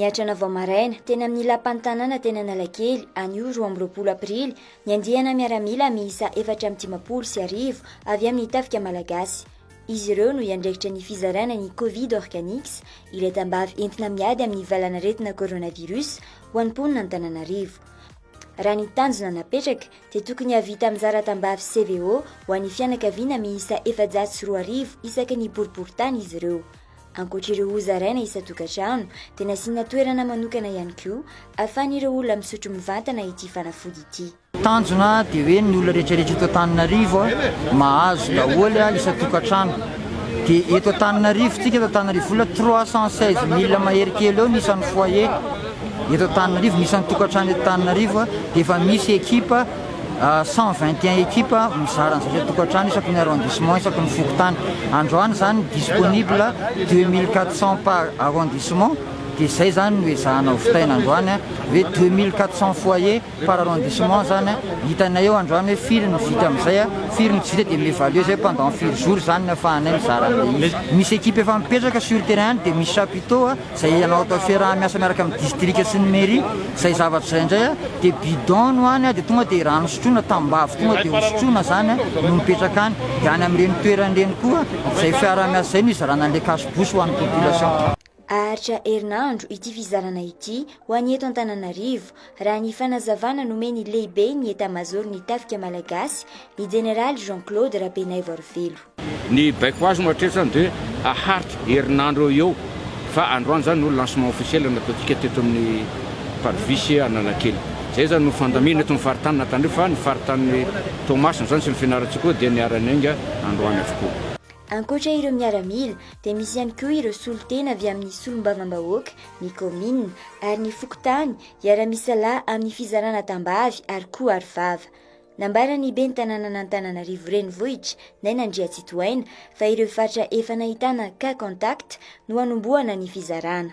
Niatrana vao maraina teny amin'ny lapan'ny tanàna teny Analakely anio roa amby roapolo aprily ny andiana miaramila miisa efatra amin'ny dimampolo sy arivo avy amin'ny tafika malagasy. Izy ireo no iandraikitra ny fizarana ny Covid Organics, ilay tambavy entina miady amin'ny valanaretina coronavirus ho an'ny mponina Antananarivo. Raha ny tanjona napetraka dia tokony hahavita mizara tambavy CVO ho an'ny fianakaviana miisa efajato sy roa arivo isaky ny boriborintany izy ireo. Ankoatra ireo hozaraina isan-tokantrano dia nasiana toerana manokana ihany koa ahafahan'ireo olona misotro mivantana ity fanafody ity. Tanjona dia hoe ny olona rehetrarehetra eto Antananarivo mahazo daholo isan-tokantrano. Dia eto Antananarivo, tsika eto Antananarivo Vola trois cent seize mille mahery kely eo ny isan'ny foyer eto Antananarivo, ny isan-tokantrano eto Antananarivo dia efa misy ekipa cent vingt et un ekipa mizara an'izay isan-tokantrano isaky ny arrondissement isaky ny fokontany. Androany izany disponible deux mille quatre cent par arrondissement dia izay izany no ezahana ho vitaina androany hoe deux mille quatre cent foyer. Par arrondissement zany a, hitanay eo androany hoe firy no vita amin'izay a, firy no tsy vita dia mi-evaluer zay pendant firy jours zany no afahanay mizara an'ilay izy. Misy équipe efa mipetraka sur terrain any dia misy chapiteaux a, zay ianao atao fiaraha-miasa miaraka amin'ny district sy ny mairie, zay zavatra zay indray a dia bidon no any a dia tonga dia rano sotroina, tambavy tonga dia hosotroina zany a no mipetraka any, dia any amin'ireny toerana ireny koa zay fiaraha-miasa zay no hizarana an'ilay cash bouche ho an'ny population. Haharitra herinandro ity fizarana ity ho any eto Antananarivo, raha ny fanazavana nomen'ny lehiben'ny Etamazaoron'ny Tafika Malagasy, ny Jeneraly Jean Claude Rabenaivoarivelo. Ny baiko azo no hatreto izany dia haharitra herinandro eo ho eo fa androany izany no lancement officiel nataontsika teto amin'ny Parvis Analakely. Izay izany no fandamina eto amin'ny faritany Antananarivo fa ny faritanin'i Toamasina izany sy ny Fianarantsoa koa dia niara-niainga androany avokoa. Ankoatra ireo miaramila dia misy ihany koa ireo solontena avy amin'ny solombavambahoaka, ny kaominina ary ny fokontany hiara-misalahy amin'ny fizarana tambavy ary koa arovava. Nambaran'ny ben'ny tanànan'Antananarivo Renivohitra, Naina Andriatsitohaina, fa ireo faritra efa nahitana cas contact no hanombohana ny fizarana.